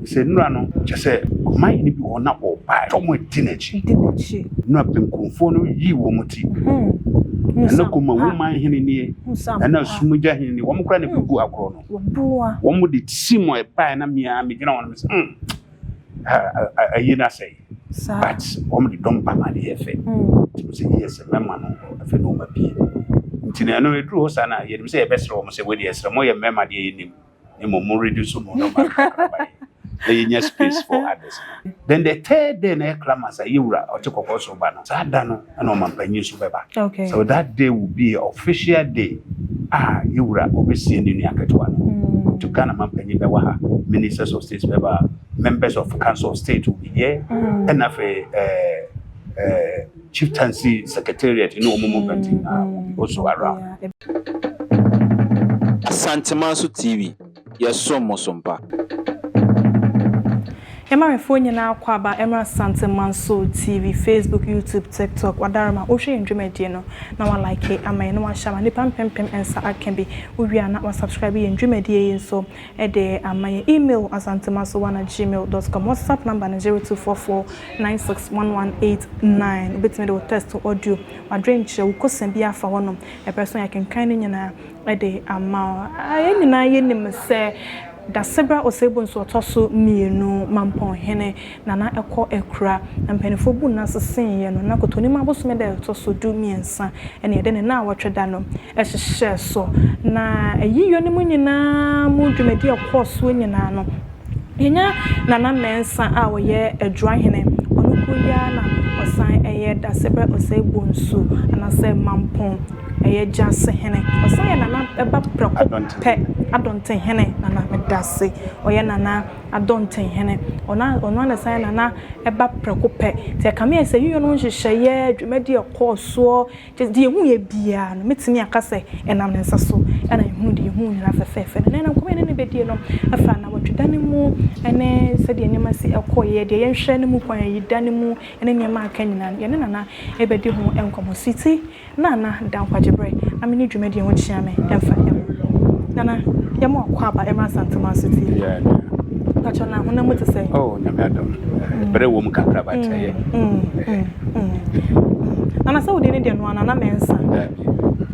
Nsɛnnura no kyerɛ sɛ ɔmanhene bi wɔ hɔ na ɔbae sɛ wɔadi n'akyi. Na benkumfoɔ no yii wɔn ti. Ɛna Kuma wo manhene nie, ɛna Sumgya hene nie, wɔn koraa na ɛbɛgu agorɔ no. Wɔn de tisi mu ɛbae na mia megyina wɔn sɛ hmm, ayi no asɛe. But wɔn de dɔm ba ma ne yɛ fɛ. Nti mo sɛ yie sɛ mɛma no afei na wɔn abie. Nti na ɛno ɛduru hɔ saa na yɛnim sɛ yɛbɛsrɛ wɔn sɛ wɔde ɛsrɛ mo yɛ mmarima deɛ yɛnim. mmom mo reduce mo no ma nkakraba yi na yɛnya space for others then the third day na ɛklama sɛ yɛ wura ɔte kɔkɔɔ so ba no saa da no ɛna ɔmampanyin nso bɛba okay. so that day will be official day a yɛ wura ɔbɛsie ne nua ketewa no mm. to Ghana mampanyin bɛwɔ ha ministers of state bɛba members of council of state will be here mm. ɛna afei ɛɛ eh, ɛɛ eh, Chieftaincy Secretariat ne wɔn mu mpɛn nyinaa will be also around. Asanteman so TV, yɛsom mo so mpa. Yɛmamefoɔ nyinaa akwaaba mmra Asanteman so TV, Facebook, YouTube, TikTok, Wadaroma, wohwɛ yɛn dwumadie no na wa like ama yɛn na wahyɛ ama nnipa mpempem nsa aka bi, wowie a na wa subscribe yɛn dwumadie yi nso. de ama yɛn. Email, asantemasowano@gmail dot com, WhatsApp number no zero two four four nine six one one eight nine. Wobɛtumi de wo text, wo audio, w'adwenkyerɛ, wo kosua biara afa hɔnom. Ɛberɛ so a yɛakenkan ne nyinaa de ama wo. Ah, yɛn nyinaa yɛnim sɛ Dasebra Osei Bonsu Ɔtɔ so Mmienu, Mampɔnhene, na na ɛkɔ akura. Na mpanimfoɔ bu nna seseeɛ no, na Kotonim abosome da a ɛtɔ so du mmiɛnsa na yɛde ne nnawɔtwe da no hyehyɛɛ so. Na ayiyɔ no mu nyinaa mu dwumadie a ɛkɔɔ soɔ nyinaa no, yɛnya Nana Mensah a ɔyɛ Adwuahene, ɔno koro yi ara na ɔsan yɛ Dasebrɛ Osei Bonsu anaasɛ Mampong, ɛyɛ Gyasehene. Ɔsan yɛ Nana ba prɛko pɛ, Adontehene Nana Medase, ɔyɛ Nana Adɔntenhene. Ɔno a ɔno na ɛsan na na ɛba prɛko pɛ. Nti ɛka me ayɛ sɛ Union no nhyehyɛeɛ, dwumadie a ɛkɔɔ soɔ, kyerɛ sɛ deɛ yɛhuiɛ biara no, mɛtumi aka sɛ ɛnam ne nsa so na yɛhunu deɛ yɛhuu nyinaa fɛfɛɛfɛ no. Na ɛnam nkɔmmɔ a yɛne no bɛdie no, ɛfa nnawɔtweda no mu ne sɛdeɛ nneɛma si kɔeɛ, deɛ yɛnhwɛ no mu kwan, ayida no mu ne nneɛma a aka nyinaa no, yɛne Nana bɛdi ho nkɔmmɔ. Sweety. Nana da nkwagye berɛ na me ne dwumadie ho kyea me ɛmfa yɛ ho Nana yɛma wakɔ aba ɛmra Asantuma so tie yeah, yeah. Pacho na honam mu te sɛ oh nyame adom mm. berɛ wɔ mu kakra ba kyɛ yɛ mm, mm, mm, Nana sɛ wode ne deɛ no ana na mɛnsa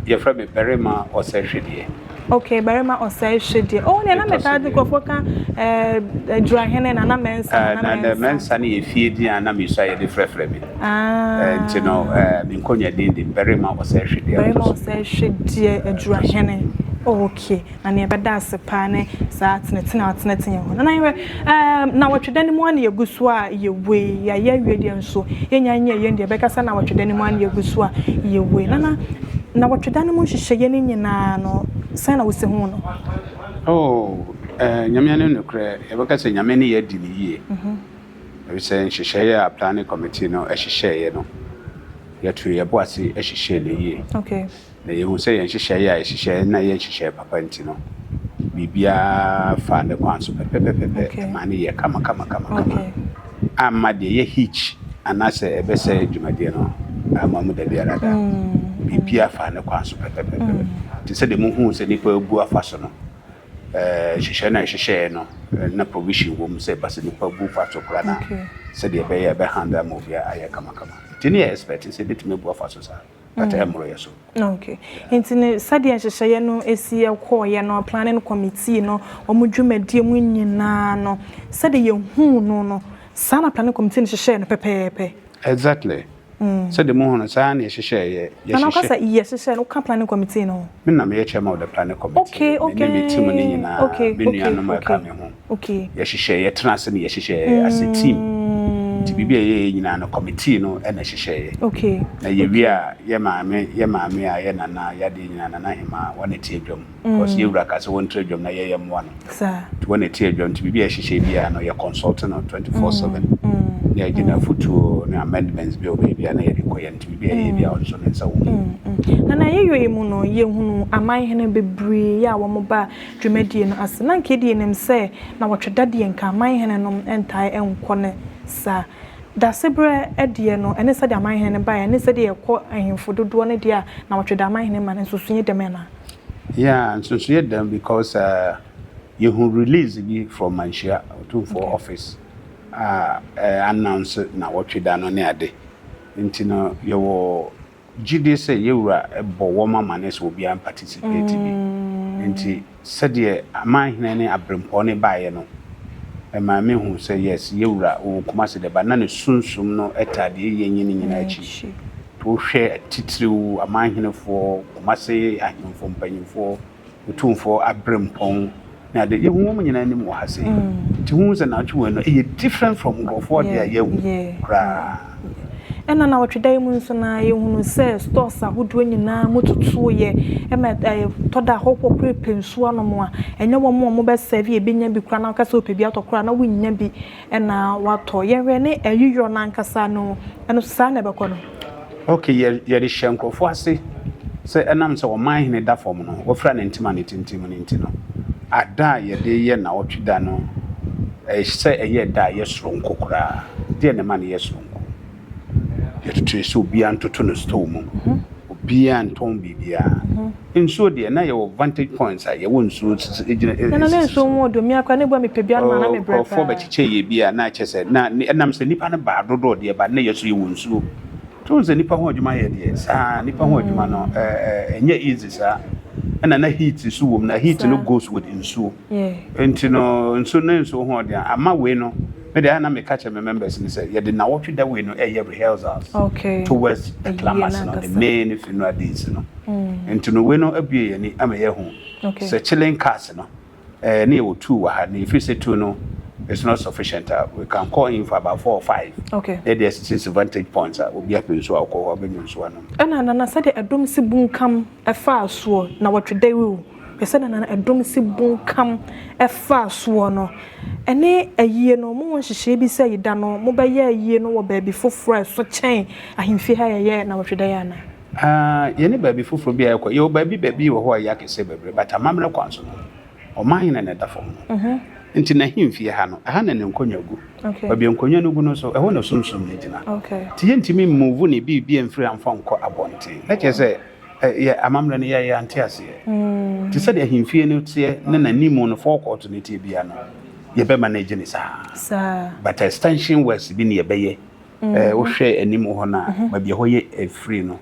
yɛfrɛ me barima ɔsɛ hwedeɛ Okay barima ɔsɛe hwe deɛ. Oh nea na me taa di nkurɔfoɔ ka eh, adurahene na na mɛnsa na ah, na mɛnsa. Na mɛnsa no yɛ fie din a na mesua yɛde frɛfrɛ me. Ah. Eh, nti no eh, me nkɔnya din de barima ɔsɛe hwe deɛ. Barima ɔsɛe hwe deɛ eh, adurahene. Oh, okay. Na nea ɛbɛda ase paa ne saa tenetene a ɔtenetene yɛn ho. Na na yɛhwɛ. Ɛɛm, nnawɔtwe da no mu ara na yɛgu so a yɛwei, yɛayɛ awie deɛ nso, yɛnnya nyɛɛ yɛn deɛ, bɛka sɛ nnawɔtwe da no mu ara na yɛgu so a yɛwei. Nana, nnawɔtwe da no mu nhyehyɛeɛ no nyina ara no, sɛn na wosi ho no? Oh, ɛɛ, Nyame anim nokorɛ, yɛbɛka sɛ Nyame ne yɛ adi no yie, ɛfisɛ nhyehyɛeɛ a Planning Committee no hyehyɛeɛ no, yɛtoo yɛn bo ase hyehyɛɛ no yie. Okay. Na yɛhu sɛ yɛn nhyehyɛeɛ a yɛhyehyɛeɛ na ɛyɛ nhyehyɛeɛ papa nti no, biribiara faa ne kwan so pɛpɛpɛpɛpɛ. Okay. Ɛmaa no yɛɛ kamakamakama. Okay. Amma deɛ ɛyɛ hitch anaasɛ ɛbɛsɛe dwumadie no amma mu da biara da. Mm, mm. Biribiara faa ne kwan so pɛpɛpɛpɛ. Mm. Te sɛ deɛ mohuu sɛ nnipa abu afa so no, eh, nhyehyɛeɛ no a yɛhyehyɛeɛ no, eh, na provision wɔ mu sɛ ɛba sɛ nnipa bu fa so koraa na Okay. sɛdeɛ ɛbɛyɛ a ɛbɛhandle ama obiara ayɛ kamakama. Nti ne yɛ expect sɛ ɛbɛtumi abu afa so saa. but ɛmmoro yɛ so. Okay. Nti ne sɛdeɛ nhyehyɛeɛ no si kɔɔeɛ no planning committee no wɔn dwumadie mu nyinaa no sɛdeɛ yɛhuu no no saa na planning committee no hyehyɛɛ no pɛpɛɛpɛ. Exactly. Mm. Sɛdeɛ mo ho no saa na yɛhyehyɛɛ yɛ yɛhyehyɛ. Na ɔkasa yɛhyehyɛ no ka planning committee no. Me na meyɛ chairman of the planning committee. Okay okay. Me ne me team no nyinaa. Okay okay. Me nuanom ɛka me ho. Okay. Yɛhyehyɛ, yɛtena ase na yɛhyehyɛ as a team. Nti biribi a yɛyɛ nyinaa no, committee no na ɛhyehyɛeɛ. Okay. Na yɛwie a, yɛ maame, yɛ maame a yɛ nana, yɛ adeɛ nyinaa, nana hema, wɔn na ɛte adwam. Because yɛ wura ka sɛ wɔntra adwam na yɛyɛ mmoa no. Saa. Nti wɔn na ɛte adwam. Nti biribi a yɛhyehyɛ biara no, yɛ consult no 24/7. Na yɛgye n'afotuo ne amendments bi wɔ baabi a na yɛde kɔ yɛn. Nti biribi a yɛyɛ biara, ɔnso ne nsa wɔ mu. Na na yɛyɔ yi mu no, yɛhunu amanhene bebree a wɔba a, dwumadie no ase. Na nka edie nim sɛ nawɔtwe da deɛ nka amanhene nom ntae nkɔ ne saa. Daseberɛ deɛ no ɛne sɛdeɛ amanhene no baeɛ ne sɛdeɛ ɛkɔ ahemfo dodoɔ no deɛ a nawɔtwe da amanhene ma no nsonsonoeɛ dɛm anaa? Yeah, nsonsonoeɛ dɛm because yɛhu release bi from Manhyia Otumfoɔ office a ɛ announce nawɔtwe da no ne ade. Nti no yɛwɔ Gye di sɛ yɛn Wura bɔ wɔn amanneɛ sɛ obiara mpatisipeti bi. Enti sɛdeɛ Amanhene ne Abirempɔɔ no baeɛ no, ɛmaa me huu sɛ, yes, yɛn Wura ɔwɔ Kumasi de, but na ne Sunsum no taa deɛ ɛyɛ nyi no nyinaa akyi. Wohwɛ titiriw Amanhenefoɔ, Kumasi Ahemfo mpanyinfoɔ, Otumfoɔ aberempɔn ne ade. Yehu wɔn nyinaa anim wɔ ha sei. Nti wohu sɛ naawɔtwe wei no, ɛyɛ different from nkurɔfoɔ deɛ a yɛahu koraa. Ɛna naawɔtwe da yi mu nso na yɛhunu sɛ stores ahodoɔ nyinaa mu tutuoeɛ. Ɛma ɛtɔ da ahɔhoɔ koraa repɛ nsuo anom a, ɛnyɛ wɔn a wɔbɛsɛɛve a ɛbɛnya bi koraa na wokasɛ wopɛ bi atɔ koraa na wonnya bi. Ɛna watɔ yɛhwɛ ne ayiyɔ no ankasa no ɛno so saa na ɛbɛkɔ no. Ok yɛ yɛde hyɛ nkurɔfoɔ ase sɛ ɛnam sɛ ɔman hene da fam no wɔfira ne ntema a ne tintim no nti no ada a yɛde yɛ nnawɔtwe da no ɛsɛ ɛyɛ da a ɛyɛ soronko koraa deɛ na ɛma no yɛ soronko. Yɛtoto yɛ sɛ obiara ntoto no store mu. Obiara ntɔn biribiara. Nsuo deɛ na yɛwɔ vantage points a yɛwɔ nsuo sisi egyina esisi so. Nana ne nsuo ho odo mia kora ne bua mi pɛ biara no ma na mi brɛ paa. Nkurɔfoɔ bɛkyekyɛ yɛ bi a na akyɛ sɛ na ɛnam sɛ nipa no baa dodoɔ deɛ ba na yɛ so yɛwɔ nsuo. So n sɛ nipa ho adwuma yɛ deɛ saa nipa ho adwuma no ɛnyɛ easy saa. Ɛna na heat nso wɔ mu na heat no goes with nsuo. Nti no nso ne nso ho ɔden a ama wei no me de a na meka kyerɛ me members no sɛ yɛde nnawɔtwe da wei no ɛyɛ rehearsals towards the climax no the main funeral days no nti no wei no abue yɛn ani ama yɛahu sɛ chilling cars no ɛɛ ne yɛwɔ two wɔ ha na yɛfiri sɛ two no it's not sufficient a we can call in for about four or five na yɛde asisi vantage points a obi apɛ nsuo a ɔkɔ hɔ abɛnya nsuo anom ɛna nana sɛdeɛ ɛdɔm si bunkam faa soɔ na wɔtwe dawur o, hwɛ sɛdeɛ na ɛdɔm si bunkam faa soɔ no, ɛne ayie no mowɔ nhyehyɛɛ bi sɛ yeda no mobɛyɛ ayie no wɔ baabi foforɔ a ɛso kyɛn ahemfie ha a yɛyɛɛ na wɔtwe dawur anaa? Aah, yɛnni baabi foforɔ biara a yɛkɔ, yɛwɔ baabi baabi wɔ hɔ a ɛyɛ akɛseɛ bebree, but amammerɛ kwan so no, Ɔman he na na ɛda fam no nti n'ahemfie ha no, ɛha na ne nkonnwa gu. Baabi a nkonnwa no gu no nso, ɛhɔ na Sunsum no gyina. Nti yɛntumi mmuvu ne biribiaa mfiri ha mfa nkɔ abɔnten. Na kyerɛ sɛ, yɛ amammerɛ no, yɛɛ yɛante aseɛ. Nti sɛdeɛ ahemfie no teɛ ne n'animu no, forecourt no teɛ biaa no, yɛbɛma no agye ne saa. But extension works bi ne yɛbɛyɛ. Eh, wohwɛ anim hɔ no a baabi a ɛhɔ yɛ afiri no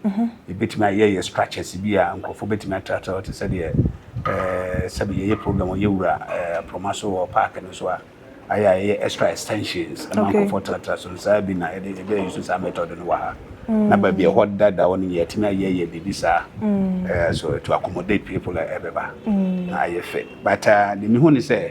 ɛbɛtumi ayɛ yɛ structures bi a nkurɔfoɔ bɛtumi atratra hɔ te sɛ deɛ eh, sɛbi yɛyɛ program ɔyɛ wura eh, aproma so wɔ park no so a ayɛ a yɛyɛ extra extensions ma Okay. nkurɔfoɔ tratra so no saa bi na yɛde yɛbɛyɛ yusu saa method no wɔ ha na baabi a ɛhɔ dada hɔ no yɛatumi ayɛ yɛ biribi saa eh, so to accommodate people a ɛbɛba na ayɛ fɛ but ah, deɛ mehu ne sɛ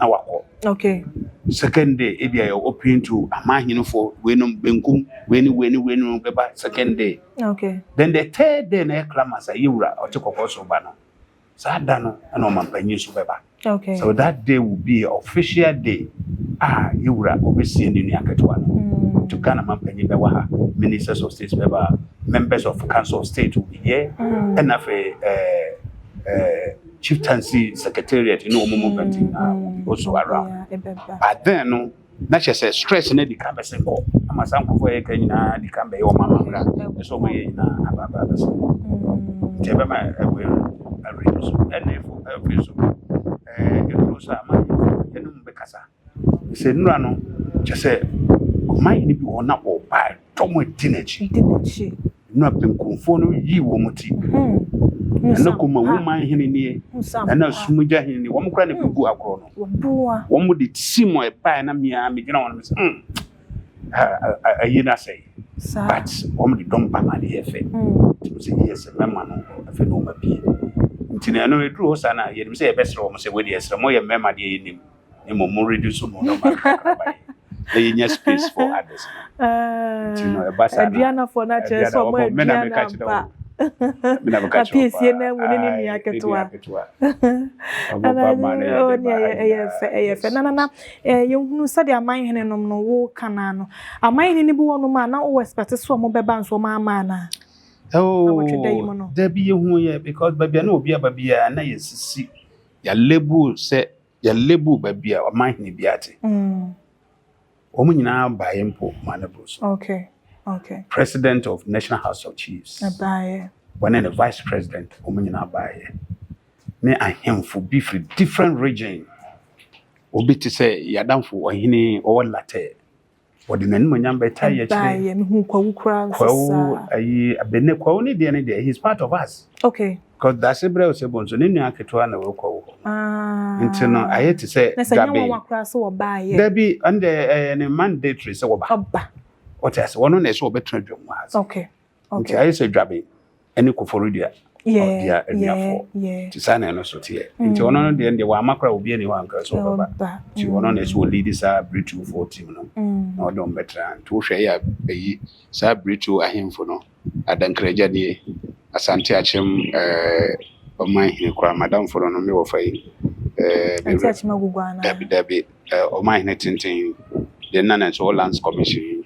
na wakɔ okay second day ebi ayɛ open to amahinfo wenum benkum weni weni wenum beba second day okay then the third day na yɛ clamas ayɛ wura ɔte kɔkɔ so ba no saa da no ɛna ɔma mpanyin so bɛba okay so that day will be a official day a yɛ wura obesie ne nua ketewa no mm. to ghana ma mpanyin bɛwɔ ha ministers of state bɛba members of council of state will be here ɛna mm. afei ɛɛ eh, ɛɛ. Eh, Chieftaincy secretariat ne wɔn mu mpɛnti nyinaa will be also around. But then no, na kyerɛ sɛ stress no adi kan bɛsɛ kɔ ama saa nkurɔfoɔ yɛ kan nyinaa adi kan bɛyɛ wɔn amammerɛ a ɛsɛ wɔn yɛ nyinaa aba aba abɛsɛ kɔ. Nti ɛbɛma ɛwɔ yɛ awerɛ so ɛna ɛfo ɛfiri so ɛɛ ɛduro so a ma yɛ ɛnum bɛkasa. Sɛ nnura no, kyerɛ sɛ ɔmanhene bi wɔ hɔ na ɔba ɛtɔ mu di n'akyi. Di n'akyi. Na benkumfoɔ no yi wɔn ti. Ɛna hmm. kɔma wo man hene nie. Ɛna sumugya hene nie. Wɔn kora na ebubu hmm. agorɔ no. Wɔn de si mu ɛbae na mmea megyina wɔn sɛ hmm. Ayi na sɛ. But wɔn de dɔm ba ma ne yɛ fɛ. Tumi sɛ yɛ sɛ mɛma no afɛ na wɔn abie. Nti na ɛno eduru hɔ saa na yɛnim sɛ yɛbɛsrɛ wɔn sɛ wɔde ɛsrɛ mo yɛ mmarima deɛ yɛnim. na mmom mo reduce mo nneɛma nkakraba yi na yɛnya space for others nti no ɛba saa aduanafoɔ no akyerɛ sɛ ɔmo aduana mpa mina meka kyerɛ apiesie na mu ne ne nua ketewa ɛna ɛyɛ fɛ ɛyɛ fɛ nana na yɛhunu sɛdeɛ aman hene nom no wo kanaa no aman hene no bi wɔ nom a na wowɔ ɛspɛte so ɔmo bɛba nso ɔmo ama anaa dabi yɛhu yɛ because baabi a na obi aba biara na yɛsisi yɛalebu sɛ Yɛ label baabi a ɔman hene biara te. Mm. Wɔn nyinaa baeɛ mpo ma ne boro so. Okay. Okay. President of National House of Chiefs. Ɛbaeɛ. Wɔne ne vice president wɔn nyinaa baeɛ. Ne ahemfo bi firi different region. Obi te sɛ yɛadamfo ɔhene ɔwɔ Latɛ. Wɔde n'animuonyam bɛtaa yɛ kyerɛ. Ɛbaa yɛ me hu kwawu koraa nso saa. Kwawu ayi abɛnɛ kwawu ne deɛ ne deɛ he is part of us. Okay. Because dase brɛ sɛ bonso ne nua ketewa na wɔ kwawu hɔ. Ah. Nti no ayɛ te sɛ. Na sɛ nyɛ wɔn wa koraa so wɔbaa yɛ. Dabi ɛnde ɛyɛ ne mandatory sɛ wɔba. Ɔba. Ɔte ase wɔn na ɛsɛ wɔbɛtena dwom wɔ ase. Okay. nti ayɛ sɛ dwabe ne kofori dua ɔdua anuafoɔ nti saa na ɛno so teɛ mm. nti ɔno no deɛ deɛ wama kora obi ani hɔ ankara so ɔbɛba nti ɔno na ɛsɛ ɔlidi saa berɛtufoɔ tim no mm. na ɔde ɔmbɛtra nti wohwɛ yɛ ayi saa berɛtu ahemfo no adankragya nie asante akyem eh, ɔman hene koraa madamfo no no me wɔfa yi eh, dabi dabi eh, ɔman hene tenten deɛ nna na ɛsɛ wɔ lands commission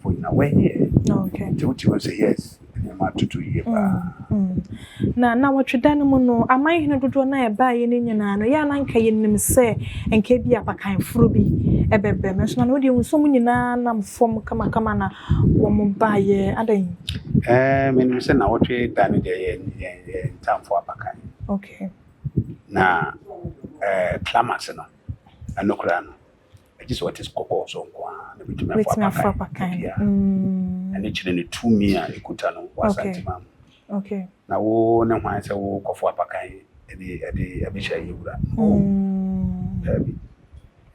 for you na one year okay nti wote wo sɛ yes nneɛma atoto yie mm, paa mm. na na wɔtwe da no mu no aman hene dodoɔ no a ɛbaeɛ no nyinaa no yɛ a na nka yɛnim sɛ nka bi apakan foro bi ɛbɛbɛ me nso na wodeɛ hu sɛ mu nyinaa nam fam kamakama na wɔn baeɛ adɛn eh, menim sɛ na wɔtwe da no deɛ yɛ ntamfo apakan okay na eh, climax no ɛno koraa no Ɛgye sɛ ɔte kɔkɔɔ so nko ara na obetumi afɔ apakan dua. Ɛno kyerɛ ne tumi a ekuta no wɔ Asanteman mu. Okay. Na wo ne hwan sɛ wo kɔfo apakan ɛde ɛde ɛbɛhyɛ yɛwura? No. Daabi.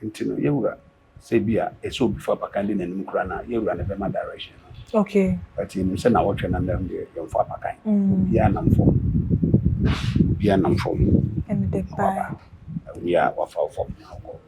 Nti no yɛwura sɛ bi a ɛsɛ obi fo apakan de n'anim kura na yɛwura na ɛbɛma direction no. Okay. But yɛnim sɛ na wɔtwe na nnam deɛ yɛmfo apakan. Obiara nam fam. Obiara nam fam. Ɛne de baa. Obiara wafa fam na ɔkɔ.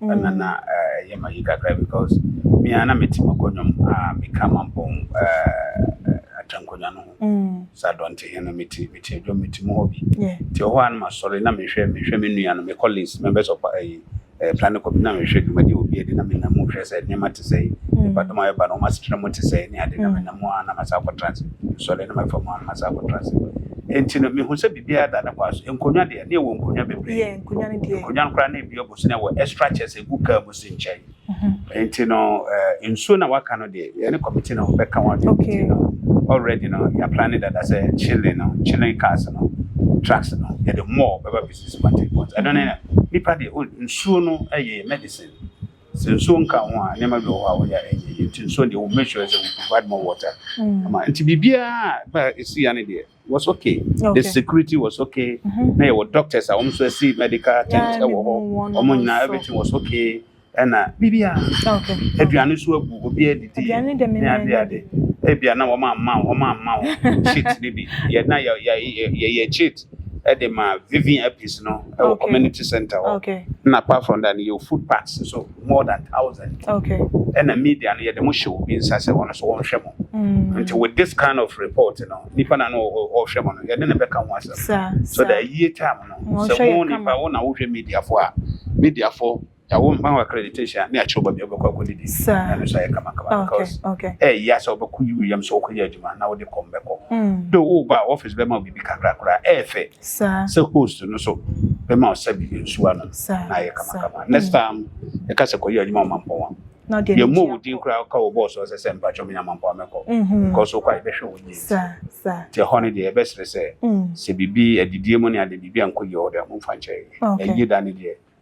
ɛna na ɛyɛ ma yi kakra because me a na mete mɔkɔ nnwom a meka mampɔn atankonya no ho mm. sɛ adɔnte he no mete mete adwom mete mu hɔ bi nti ɔhɔ a no masɔre na mehwɛ mehwɛ me nua no mekɔ list members of ayi eh, eh, planning committee na mehwɛ dwumadi obi adi na menam mu hwɛ sɛ nneɛma te sɛe mm. nipadɔm a ɛba no ɔma setena mu te sɛe ne ade na mm. menam mu a na masa akɔtra ase sɔre na mafa mu a na masa akɔtra ase nti no mehu sɛ biribiara da ne kɔ so nkonnwa deɛ ne ɛwɔ nkonnwa bebree nkonnwa no koraa na ebi nso na ɛwɔ extra chest egu car mu si nkyɛn nti no eh, nsuo na waka no deɛ yɛne committee no bɛka ho adwene okay. nti no already no yɛ planning dada sɛ chilling no chilling cars no trucks no yɛde more bɛba bɛsi semantic points ɛno ne na nipa deɛ oh, nsuo no ɛyɛ medicine sɛ nsuo nka ho a nneɛma bi wɔ hɔ a wɔyɛ a ɛnyɛ yie nti nsuo deɛ wɔn make sure sɛ we provide more water mm. ama nti biribiara ba esi ya ne deɛ was okay. okay. The security was okay. Mm-hmm. Now your doctors are also see medical things. Yeah, eh, yeah, everything was okay. And uh, baby, ah, okay. If you are not sure, will be a detail. Ebi ana wɔn ama wɔn ama wɔn cheat ne bi yɛ na yɛ yɛ yɛ yɛ cheat ɛde ma vivin apis no ɛwɔ community center hɔ na apart from that yɛ food packs so. more than thousand okay ɛna media no yɛde mo hyɛ obi nsa sɛ ɔno so wɔnhwɛ mo mm. nti with this kind of report you know, nipa na no ɔhwɛ mo no yɛde ne bɛka ho asɛm so that yie time no sɛ mo nipa wo na wohwɛ media fo a media fo yàwó mma wɔ accreditation ne akyerɛ baabi ɔbɛkɔ akɔ didi ɛno so ayɛ kamakama ah, because ɛyɛ sɛ ɔbɛkɔ yi wiyam sɛ ɔkɔ yɛ adwuma na wode kɔm bɛkɔ do woba a office bɛma obibi kakrakora ɛɛfɛ Saa. Sɛ host no so bɛma wo sɛ bibi nsuo anom Saa. na ayɛ kamakama. Next time ɛka sɛ kɔyɛ adwuma ɔmampɔn a, Na ɔde yɛmmɔ anigye wo din koraa woka wɔ bɔɔl so hɔ sɛ sɛ mpakyɛ menya mampɔn a mɛkɔ. Mhm. Because wokɔ a yɛbɛhwɛ wo yie. Saa. Saa. Nti ɛhɔ no deɛ yɛbɛsrɛ sɛ Mm. sɛ biribi adidie mu ne adeɛ biribi ankɔ yie wɔ hɔ deɛ a momfa nkyɛ yɛn. Okay. Yɛn Yie da no deɛ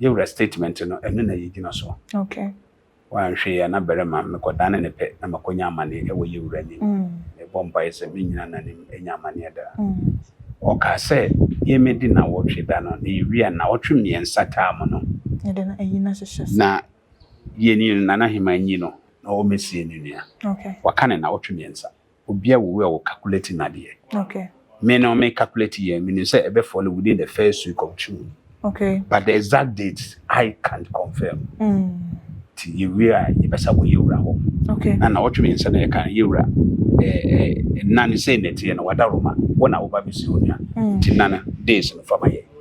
Yewura statement no ɛno na yɛgyina so. Okay. Woanhwɛ yɛ na barima mekɔdane ne pɛ na makɔnya amaneɛ ɛwɔ Yewura anim. Mm. Mebɔ mpaeɛ sɛ mennyina n'anim ɛnya amaneɛ da. Mm. Ɔkaa sɛ yɛmɛdi nawɔtwe da no na yɛwie a nawɔtwe mmiɛnsa taa mu no. Yɛde no ayi no ahyehyɛ so. Na yɛni no Nana Heman nyi no na ɔmɛsie ne nua. Okay. Waka no nawɔtwe mmiɛnsa. Obia wo wia wo calculate nadeɛ. Okay. Me no me calculate yɛ me nim sɛ ɛbɛ fall within the first week of June. Okay. But the exact date I can't confirm. Mm. Ti yɛ wia yɛ bɛ sa wɔ yɛ wura hɔ. Okay. Na na ɔtwe mi nsa na yɛ kan yɛ wura ɛɛ ɛɛ nane sɛ nɛteɛ na wada Roma wɔ na ɔba bi si onya. Mm. Ti nana days no fama yɛ.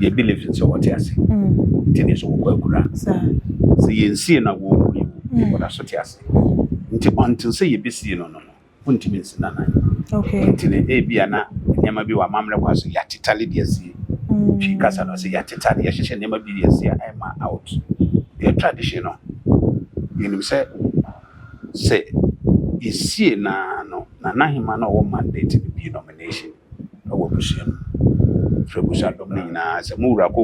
yɛ believe sɛ wɔte ase nti ne nso wɔkɔ akura sɛ yɛnsie na wɔwu yi wo wɔda so te ase nti until sɛ yɛbɛsie no no no wontumi nsi no anan nti ne ebia na nneɛma bi wɔ amammerɛ kwa so yɛatetale de asie twi kasa no sɛ yɛatetale yɛhyehyɛ nneɛma bi de asie a ɛma out yɛ tradition no yɛnim sɛ sɛ yɛsie na no na nahema no ɔwɔ mandate no bi nomination wɔ abusua mu firi abusua dɔm no nyinaa sɛ mo wura ko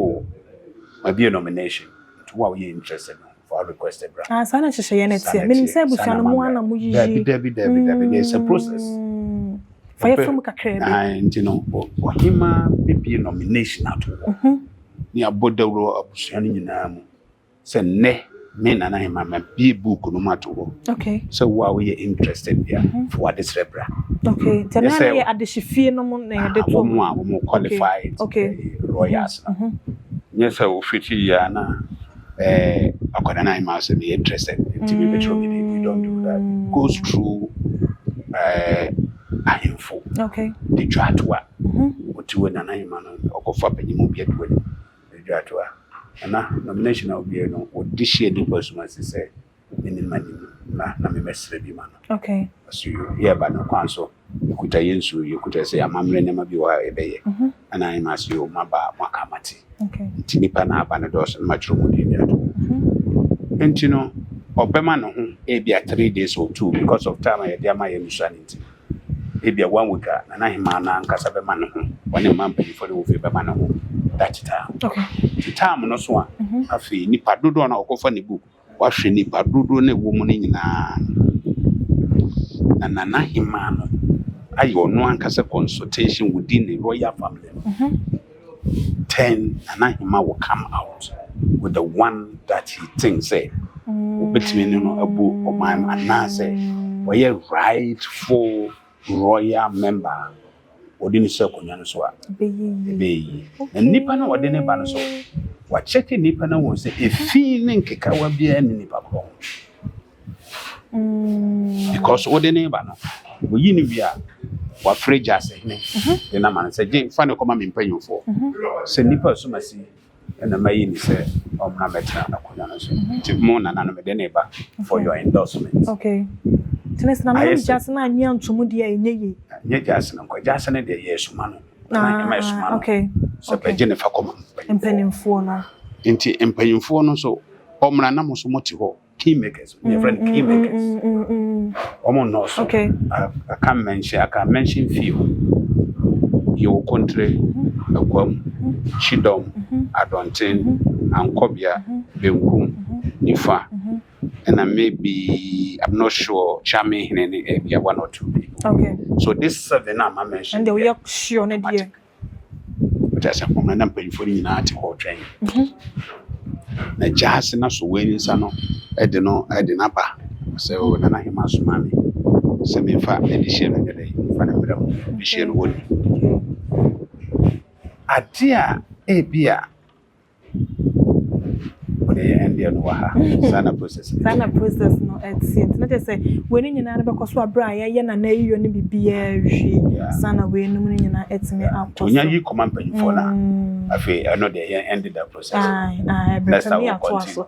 mabie nomination nti wo a woyɛ interested no fa request bra ah, saa na nhyehyɛeɛ no teɛ menim sɛ abusua no mu ana moyiyi dabi dabi dabi dabi na ɛsɛ process mm. fa yɛfrɛ mu kakra bi ah, nti no ɔhema bɛbie nomination ato hɔ mhm. ne abɔ dawuro abusua no nyinaa mu sɛ nnɛ me nana ahema ma bie book no ma to hɔ okay sɛ wo a woyɛ interested bia mm -hmm. fo ade srɛ bra okay sɛ na yɛ adehye fie no mu na yɛde to mu a wɔn qualified okay. lawyers mm -hmm. nyɛ sɛ wofiti yɛ na eh akɔda na ahema sɛ me interested nti me betro me we don't do that mm. goes through eh ahemfo okay de twa to a wotiwe nana ahema no ɔkɔfa panyimu bi aduane Adwatoa, Nana, nomination a obiae no wɔde hyɛɛ nipa sum ase sɛ ne ne mma nim na na me mɛsrɛ bi ma no. Okay. Ɔso yo, yɛba no kwan so, yɛkuta yɛn nsuo, yɛkuta sɛ amammerɛ nneɛma bi wɔ ha a yɛbɛyɛ. Mm-hmm. Ɛna ayɛ ma ase yo, maba a moaka mate. Okay. Nti nipa na aba no dɔɔso na matwerɛ mu din de ato. Mm-hmm. Nti no, ɔbɛma ne ho ebi a three days or two because of time a yɛde ama yɛn nsuane nti. Ebia wɔanwotwa Nanahemaa no ankasa bɛma ne ho, ɔne mmaa mpanyimfoɔ no awofie bɛma ne ho that time. Nti time no so a, afei nipa dodoɔ no a wɔkɔfa ne book, wahwɛ nipa dodoɔ no a ɛwɔ mu no nyinaa no, na Nanahemaa no ayɛ ɔno ankasa consultation within ne royal family no. Ten Nanahima will come out with the one that he think sɛ obetumi ne no abu ɔman mu anaasɛ ɔyɛ rightful royal member a wɔde no si akonnwa no so a ɛbɛyɛ yie. Na nnipa no a wɔde no ba no so wɔakyɛke nnipa no wɔn sɛ efi ne nkekawa biara ne nnipa korɔ ho. Mm. Because what the neighbor no, we you know we are. wafrɛ gya sɛ hene de no ama no sɛ gye fa ne kɔma me mpanyimfoɔ sɛ nnipa a soma si ɛna mayi ne sɛ ɔmmra mɛtena akonnwa no so nti mo nananom de ne ba for your endorsement okay tene sena no gya sɛ na anyi antom deɛ ɛnyɛ yi nyɛ gya sɛ no nkɔ gya sɛ no deɛ yɛ soma no na ɛma ɛsoma no okay sɛ bɛgye ne fa kɔma mpanyimfoɔ no nti mpanyimfoɔ no so ɔmmra na mo so mote hɔ kingmakers mm, yɛfrɛ no kingmakers wɔn nnɔɔso I can mention I can mention few yɛwɔ kontre akwam kyidɔm adɔnten ankɔbea benkum nifa ɛna maybe i'm not sure kyame hene ne ɛbia one or two people okay. so this seven a ma mention ɛnde woyɛ sure ne deɛ Ɔkyerɛ sɛ homa na mpanyimfoɔ no nyinaa te hɔ retwɛn. Na gyaase no asɔ wei ne nsa no de no de no aba sɛ o nana hema soma me sɛ memfa ɛde hyɛ no nyɛ dɛ mfa no mmerɛ mu de hyɛ no wɔ ne. Ade a ebi a wode yɛ ɛndeɛ no wɔ ha saa na process no saa na process no ɛteɛ nti na kyerɛ sɛ wei no nyinaa no bɛkɔ so aberɛ a yɛyɛ na na yiyɔ no biribiaa wie saa na wei nom no nyinaa ɛtumi akɔ so nya yi kɔma mpanyimfoɔ no a mm. afei ɛno deɛ yɛn ɛnde da process ɛbɛtumi atoa so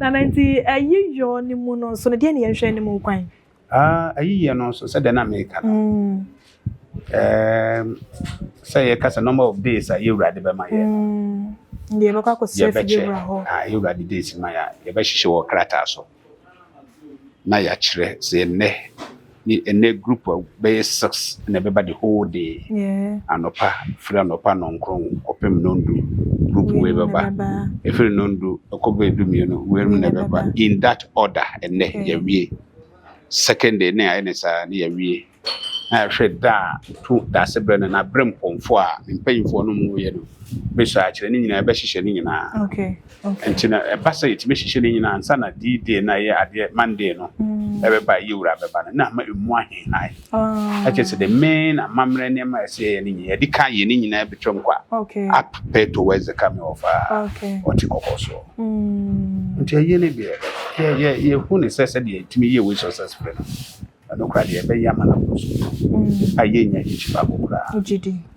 nana nti ɛyiyɔ no mu no nso no deɛ ne yɛnhwɛ no mu kwan Ah, ayiyɛ no nso sɛdeɛ na meka no ɛɛm, sɛ yɛka sɛ number of days a yɛwurade bɛma yɛ deɛ yɛbɛkɔ akɔsrɛ fi yɛbɛkyɛ bɛwura hɔ a yɛwurade days ma yɛ a yɛbɛhyehyɛ wɔ krataa so na yɛakyerɛ sɛ ɛnnɛ ne ɛnnɛ group a bɛyɛ six na ɛbɛba the whole day Yeah. anɔpa firi anɔpa nɔnkron kɔpem nondu group wei bɛba ɛfiri nondu ɛkɔ bɛdu mmienu wei mu na ɛbɛba in that order ɛnɛ mm. yɛwie second day ne ayɛ ne saa ne yɛwie na yɛhwɛ da a to daase berɛ no na berɛ mpɔmfo a mpanyimfoɔ no mu yɛ no bɛsɔ akyerɛ ne nyinaa yɛbɛhyehyɛ ne nyinaa nti na ɛba sɛ yɛtumi hyehyɛ ne nyinaa nsa na dii day na ɛyɛ adeɛ monday no mm. ɛbɛba yɛwura bɛba no na ama ɛmu ahehae ɛkyɛ sɛ the main amammerɛ nneɛma a ɛsɛ yɛyɛ no nyinaa yɛde ka yɛ ne nyinaa bɛtwam kwa up pay towards the coming of uh, ɔte kɔkɔ soɔ mm. nti ɛyɛ no deɛ yɛhu ne sɛ sɛdeɛ ɛtumi yɛ wei successful no ɛno kora deɛ ɛbɛyɛ ama no aboro so mm. a yɛnya gyikyi baako koraa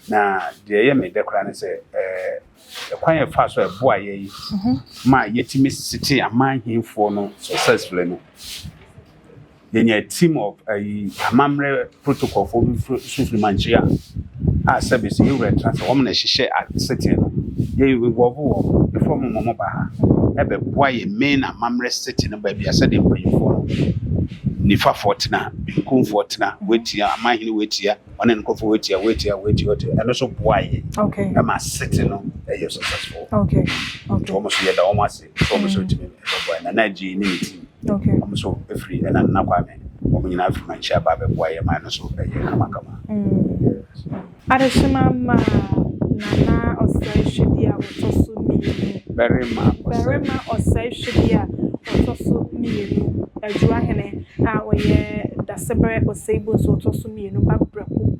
na deɛ ɛyɛ medɛ koraa ne sɛ eh, ɛkwan yɛ fa so ɛboa yɛ yi mhm. ma yɛtumi sete aman hemfoɔ no successfully no yɛnya a team of ayi amammerɛ protocolfoɔ bi nso firi mankyia a service me wura tena sɛ wɔn na ɛhyehyɛ asetee no yɛ involve wɔn ɛfiri wɔn ma wɔn ba ha ɛbɛboa yɛ main amammerɛ setee no baabi a sɛdeɛ mpanyinfoɔ no nifafoɔ tena benkumfoɔ tena wɔatia amahene wɔatia wɔne no nkɔfoɔ wɔatia wɔatia wɔatia wɔatia ɛno nso boa yɛ ɛma setee no ɛyɛ successful nti wɔn nso yɛda wɔn ase So wɔn nso tumi bɛboa Nana Adjei ne ne team. Okay. Wɔn nso firi ɛna Nana Kwame. Wɔn nyinaa firi Manchi aba abɛboa yɛ man no so ɛyɛ kamakama. Mm. Adehyema ma Nana ɔsɛe hwɛdeɛ a wɔtɔ so mmienu. Barima ɔsɛe. Barima ɔsɛe hwɛdeɛ a wɔtɔ so mmienu. Adwuahene a ɔyɛ Dasebrɛ Oseibo nso ɔtɔ so mmienu. Babrako.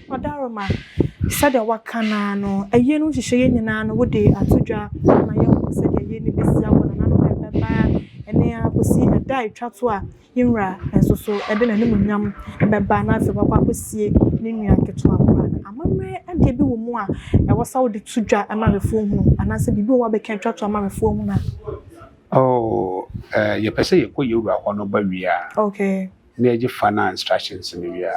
Ɔdarima, sɛdeɛ woaka no ara no, ayie no nhyehyɛɛ yɛ nyinaa no wode ato dwa ma yɛahunu sɛdeɛ ayie no bɛsi awɔ nananom a ɛbɛba ɛnnɛ ara kɔsi ɛda a ɛtwa to a yɛn Wura nso so de n'animuonyam bɛba na afei wakɔ akɔsie ne nua ketewa koro ano. Amammerɛ adeɛ bi wɔ mu a ɛwɔ sɛ wode to dwa ma awɛfoɔ hunu anaasɛ biribi wɔ hɔ a wobɛka atwa to ama awɛfoɔ ahunu a? Oh, eh, yɛpɛ sɛ yɛkɔ yɛn Wura hɔ no ba wie a, na yɛgye final instructions no wie a,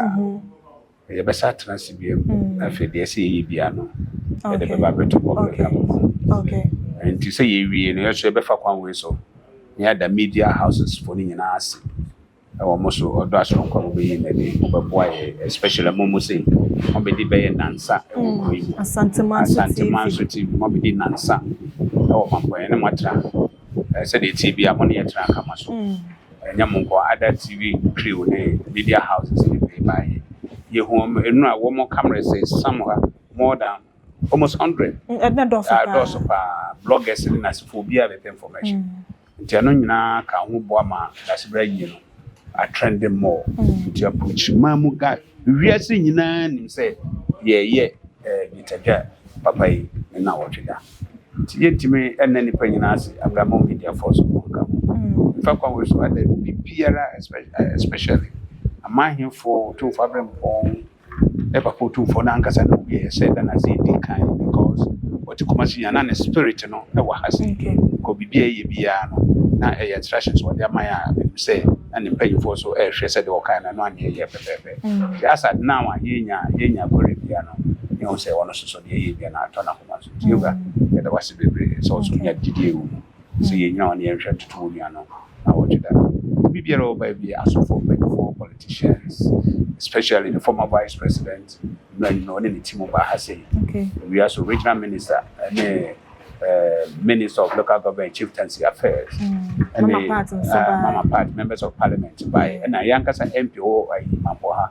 Yɛbɛsan atena ase bio na afei deɛ ɛsɛ yɛyɛ biara no yɛde bɛba abɛto hɔ bɛka mo ho nti sɛ yɛwie no yɛso yɛbɛfa kwan wei so na yɛada media houses foɔ no nyinaa ase ɛwɔ mo so ɔdɔ asoronko a mobɛyi no adi mobɛboa yɛ especially mo mo sei mobɛdi bɛyɛ nansa ɛwɔ kuro yi mu Asantuma nso TV mobɛdi nansa ɛwɔ mampɔyɛ ne moatra Sɛdeɛ ɛteɛ biara, mo ne yɛn tena nka ma so. Ɛnyɛ mo nko, other TV crew ne media houses ne pay baayɛ. Yɛhu wɔn nnura, wɔn cameras is somewhere more than almost hundred. Ɛna dɔɔso paa. Dɔɔso paa. Bloggers ne nasefoɔ biara bɛpɛ information. Nti ɛno nyinaa ka ho boa ma Dasebra yie no. are trending more nti approach man mu guy wiase nyinaa nim sɛ yɛyɛ dwetagya papa yi ne na wɔtwe da nti yɛntumi ɛnna nipa nyinaa ase abramo media fɔ so wɔn ka nfa kwan wɔ so ada obi biara especially amanhefo tumfo abirɛmpɔn. Eva Portumfoɔ no ankasa na ɔwieɛ sɛ Ghana dze edi kan because ɔtse Kumasi a na ne spirit no wɔ ha sei because biribi a ɛyɛ biara no na ɛyɛ instructions a ɔde ama yɛn a menim sɛ na ne mpanyinfoɔ so ɛrehwɛ sɛ deɛ ɔkae no ɛno a na ɛyɛ pɛpɛɛpɛ nti as at now a yɛnya yɛnya kɔre biara no yɛhu sɛ ɔno soso deɛ ɛyɛ biara no atɔ n'akoma so nti Eva yɛda wase bebree sɛ ɔso nya gyidie wɔ mu. sɛ yɛnnya wɔn na yɛnhwɛ ntoto wɔn nua no na wɔgye da. Obi biara a ɔbae bi, asɔfoɔ mpanyinfoɔ, politicians, especially the former vice president, mmerɛ nyina ɔne ne team baa ha sei. Okay. Ewia so regional minister ɛne eh, minister of local government and chieftaincy affairs. Mm. Mama part nso eh, baa. mama part members of parliament bae. Ɛna yɛn ankasa MP wɔ ayi Mampo ha.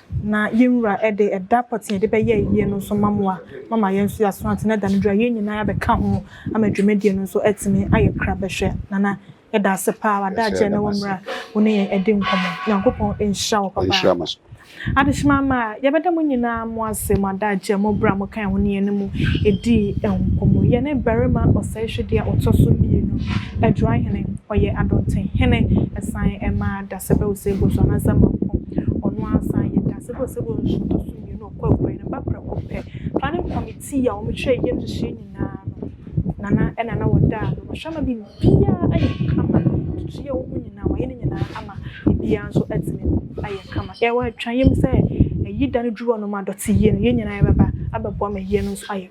Na yɛn Wura de ɛda pɔtee a yɛde bɛyɛ ayie no nso ma mo a moama yɛn nso yɛaso ate, na ɛda no duru a yɛn nyinaa yɛabɛka ho ama dwumadie no nso atumi ayɛ kra bɛhwɛ. Nana, yɛda ase pa ara, w'adagyeɛ na wo mmerɛ a wo ne yɛn adi nkɔmmɔ. Nyankopɔn nhyira wo papa. Adehyema ama a, yɛbɛda mo nyinaa mo ase, mo adagyeɛ, mo berɛ a mokaa ho ne yɛn ne mo dii nkɔmmɔ. Yɛne barima ɔsɛehwɛdeɛ a ɔtɔ so mmienu, Adwoa Hene, ɔyɛ Adonte Hene, ɛsan maa Dasɛbɛ Osei Bosuah Nansah Mampong, Ɔno ara san yɛ dase bɔ sɛ wɔ nsutoso mmienu a ɔkɔ apuei no ba prɛko pɛ. Planning Committee a wɔkyerɛ yɛm nhyehyɛe nyinaa no, Nana ɛna na wɔda a no wɔhwɛ ma biribiara ayɛ kama. Tutu yɛ wɔn nyinaa wɔayɛ ne nyinaa ama biribiara nso atumi ayɛ kama. Yɛwɔ atwa yam sɛ ayi da no duru hɔ nom a dɔte yie no yɛn nyinaa yɛbɛba abɛboa ma yie no nso ayɛ.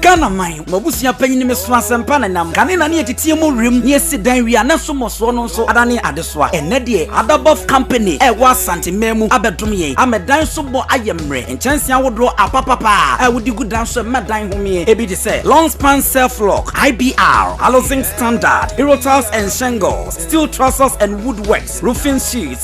Ghana man mo abusua panyin me so asɛmpa na nam kane na ne yɛteteɛ mu wiem ne yɛsi dan wie a na so mmɔsoɔ no nso adane adesoa ɛnɛ deɛ adabɔf company ɛwɔ asante mmaa mu abɛdom yɛn ama dan so bɔ ayɛ mmerɛ nkyɛnse ahodoɔ apapapa a wodi gu dan so ɛma dan homeɛ ebi te sɛ long span self lock ibr alozing standard hero tiles and shingles steel trusses and woodworks roofing sheets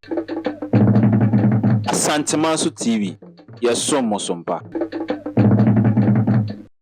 Asanteman so TV, yɛsom mo so mpa.